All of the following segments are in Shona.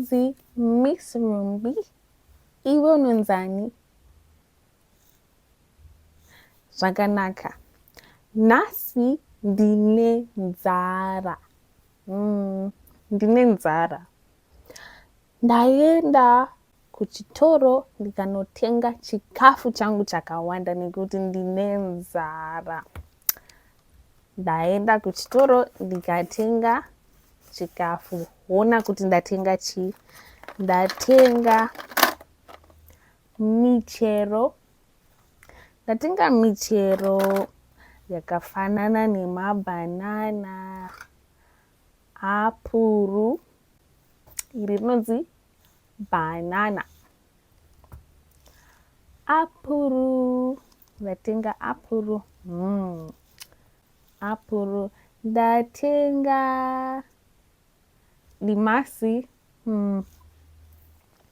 Mzee Miss Rumbi, iwe unonzani? Zvakanaka, nhasi ndine nzara. Mm, ndine nzara. Ndaenda kuchitoro ndikanotenga chikafu changu chakawanda nekuti ndine nzara. Ndaenda kuchitoro ndikatenga chikafu. Hona kuti ndatenga chii? Ndatenga michero Ndatenga michero yakafanana nemabhanana, apuru, iri rinonzi bhanana. Apuru, ndatenga apuru. Mm. Apuru, ndatenga dimasi. Mm.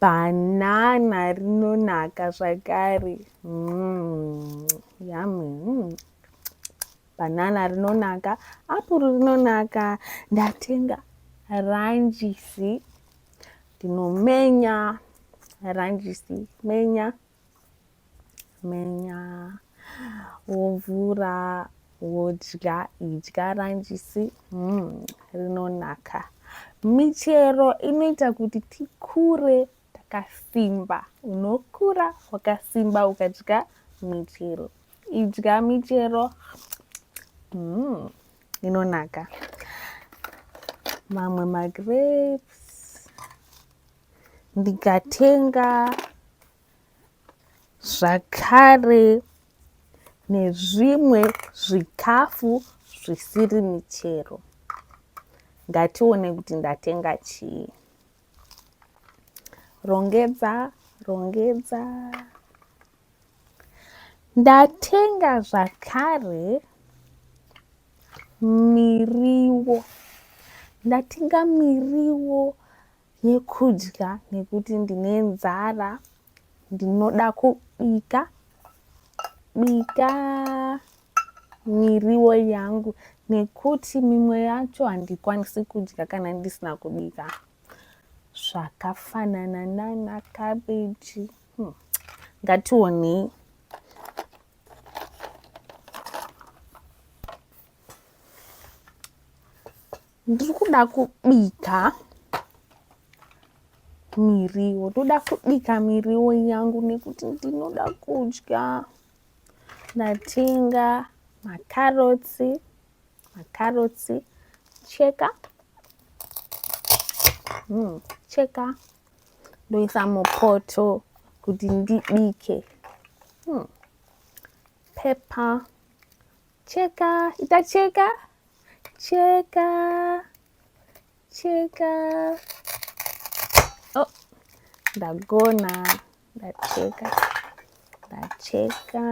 Banana rinonaka zvakare. Mm, yummy. Mm. Banana rinonaka, apuru rinonaka. Ndatenga ranjisi. Ndinomenya ranjisi, menya. menya wovhura wodya idya ranjisi mm, rinonaka michero inoita kuti tikure takasimba unokura wakasimba ukadya michero idya michero mm, inonaka mamwe magrapes ndikatenga zvakare nezvimwe zvikafu zvisiri michero ngatione kuti ndatenga chii rongedza rongedza ndatenga zvakare miriwo ndatenga miriwo yekudya nekuti ndine nzara ndinoda kubika bika miriwo yangu nekuti mimwe yacho handikwanisi kudya kana ndisina kubika zvakafanana nana kabeji hmm. ngationei hmm. ndiri kuda kubika miriwo ndoda kubika miriwo yangu nekuti ndinoda kudya ndatenga makarotsi makarotsi cheka mm, cheka ndoisa mupoto kuti ndibike mm. pepper Cheka, ita cheka, cheka, cheka. Oh, ndagona, ndacheka, ndacheka,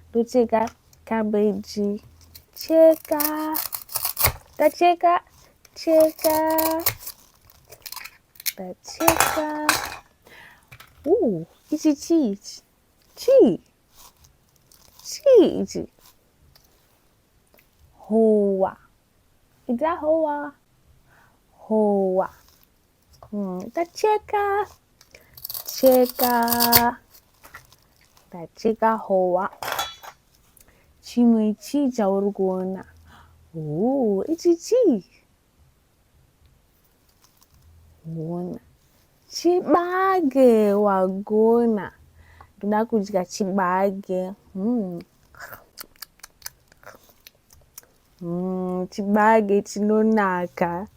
ndocheka cabbage. Cheka, ndacheka, cheka, ndacheka. Ooh, ichi chii ichi? Chii? chii ichi howa ita howa howa hmm, ita cheka cheka ndacheka howa chimwe chii chauri kuona huu ichi chii Hona. Chibage wagona. Ndoda kudya chibage. Mm. Mm, chibage chinonaka.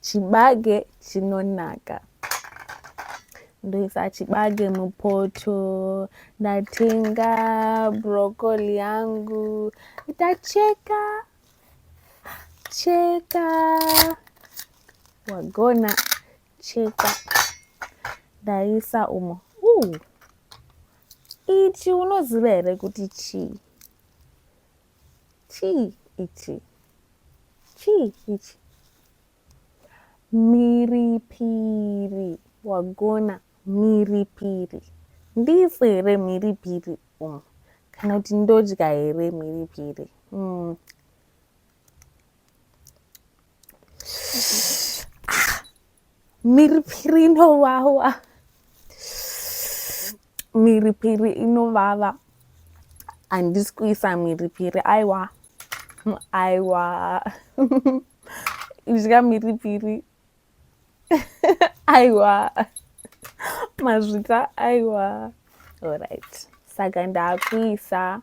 Chibage chinonaka. Ndoisa chibage mupoto. Ndatenga broccoli yangu. Ndacheka. Cheka. Wagona cheka. Ndaisa umo. Uh. Ichi unoziva here kuti chii? Chii ichi? Chii ichi? Mhiripiri. Wagona mhiripiri. Ndifu here mhiripiri? umm kana kuti ndodya here mhiripiri mm. mhiripiri inowawa mhiripiri inovava handisi kuisa mhiripiri aiwa aiwa idya mhiripiri aiwa mazvita aiwa alright saka ndakuisa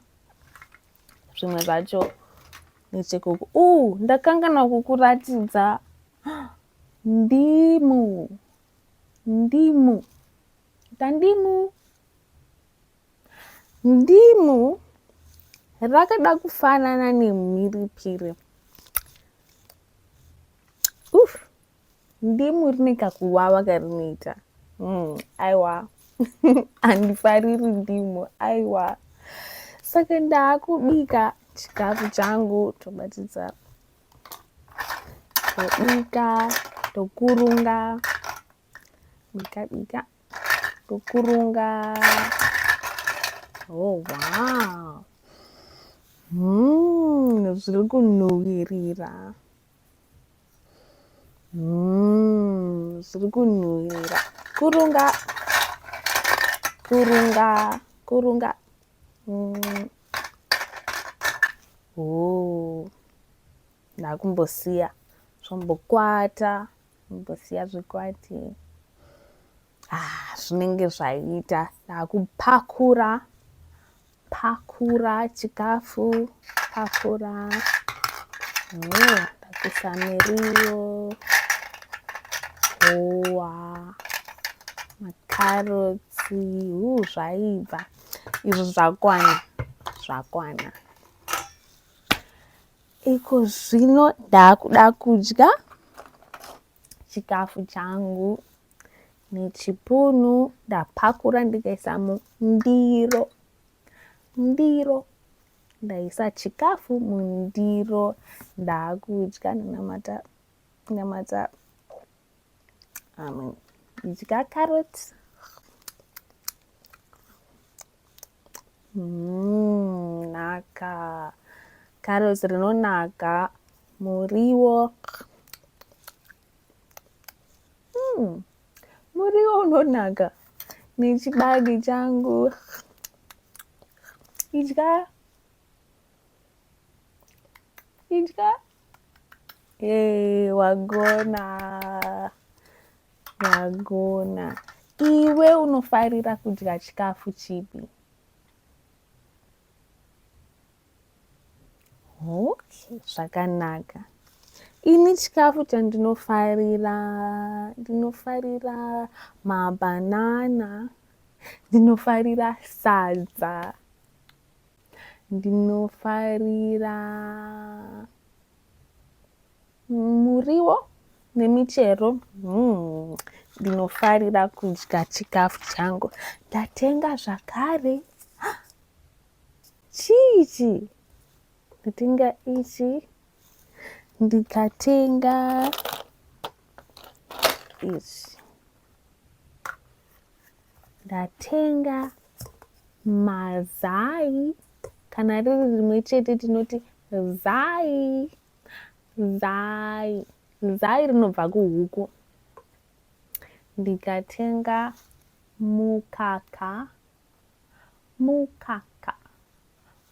zvimwe zvacho nechekuku u uh, ndakangana kukuratidza ndimu ndimu tandimu Ndimu rakada kufanana nemhiripiri. Uf, ndimu rine kakuwawa karinoita. Mm, aiwa handifariri ndimu aiwa. Saka ndakubika chikafu changu tobatidza tobika tokurunga ndikabika ndokurunga oh wow mm, zviri kunhuwirira mm, zviri kunhuwirira kurunga kurunga kurunga mm. oh. ndakumbosiya zvombokwata Mbosiya zvikwati ah, zvinenge zvaita ndakupakura pakura chikafu pakura ndakuisa miriwo howa makarotsi hu zvaibva izvo zvakwana zvakwana Iko zvino ndakuda kudya chikafu changu nechipunu ndapakura ndikaisa mundiro ndiro ndaisa chikafu mundiro ndakudya ndinamata ndinamata amen ndidya carrot Mm, naka carrots rinonaka muriwo mm, muriwo unonaka nechibagi changu idya idya Yay, wagona wagona. Iwe unofarira kudya chikafu chipi? Okay, zvakanaka. Ini chikafu chandinofarira ndinofarira mabanana, ndinofarira sadza. Ndinofarira muriwo nemichero. Hmm. Ndinofarira kudya chikafu changu. Ndatenga zvakare chichi ndatenga ichi ndikatenga ichi ndatenga mazai kana riri rimwe chete tinoti zai zai zai rinobva kuhuku ndikatenga mukaka mukaka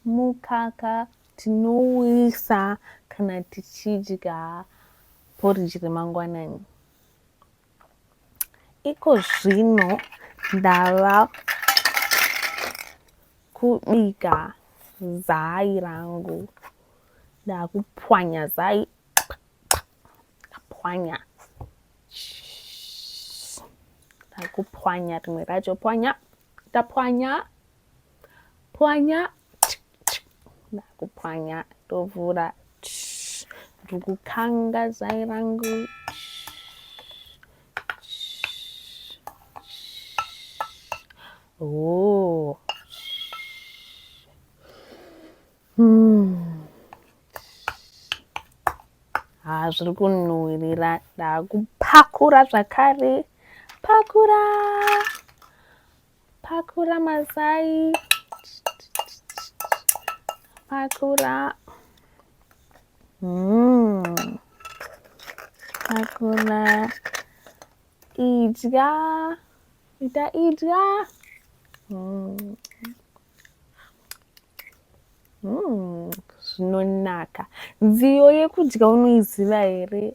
mukaka tinouisa kana tichidya poriji remangwanani Iko zvino ndava kubika zai rangu. Ndakupwanya zai. Ndapwanya. Ndakupwanya rimwe racho pwanya. Ndapwanya. pwanya ndakupwanya ndovhura ndiri kukanga zai rangu oh. hmm. haa zviri kunhuhwirira ndakupakura zvakare pakura Pakura mazai. Pakura. Mm. Pakura. Idya. Ita idya. Mm. Mm. Zvinonaka. Nziyo yekudya unoiziva here?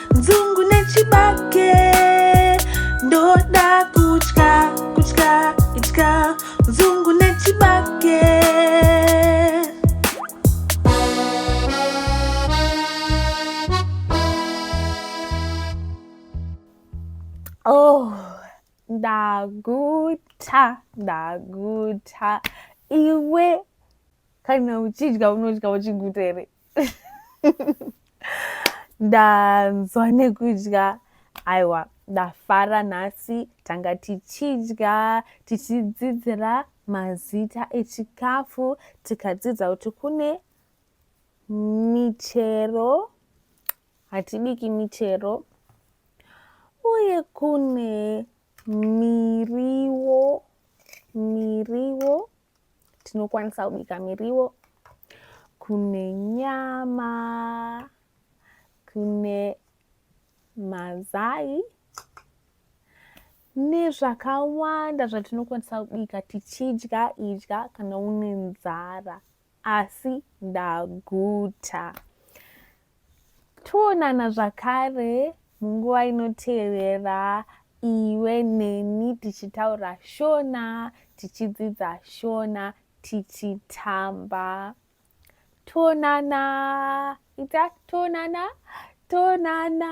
nzungu nechibage ndoda kutya kutya itya nzungu nechibage oh ndaguta ndaguta iwe kana uchidya unodya uchiguta here ndanzwa nekudya aiwa ndafara nhasi tanga tichidya tichidzidzira mazita echikafu tikadzidza kuti kune michero hatibiki michero uye kune miriwo miriwo tinokwanisa kubika miriwo kune nyama kune mazai nezvakawanda zvatinokwanisa kubika tichidya idya kana une nzara asi ndaguta Toonana zvakare munguva inotevera iwe neni tichitaura shona tichidzidza shona tichitamba toonana ita toonana toonana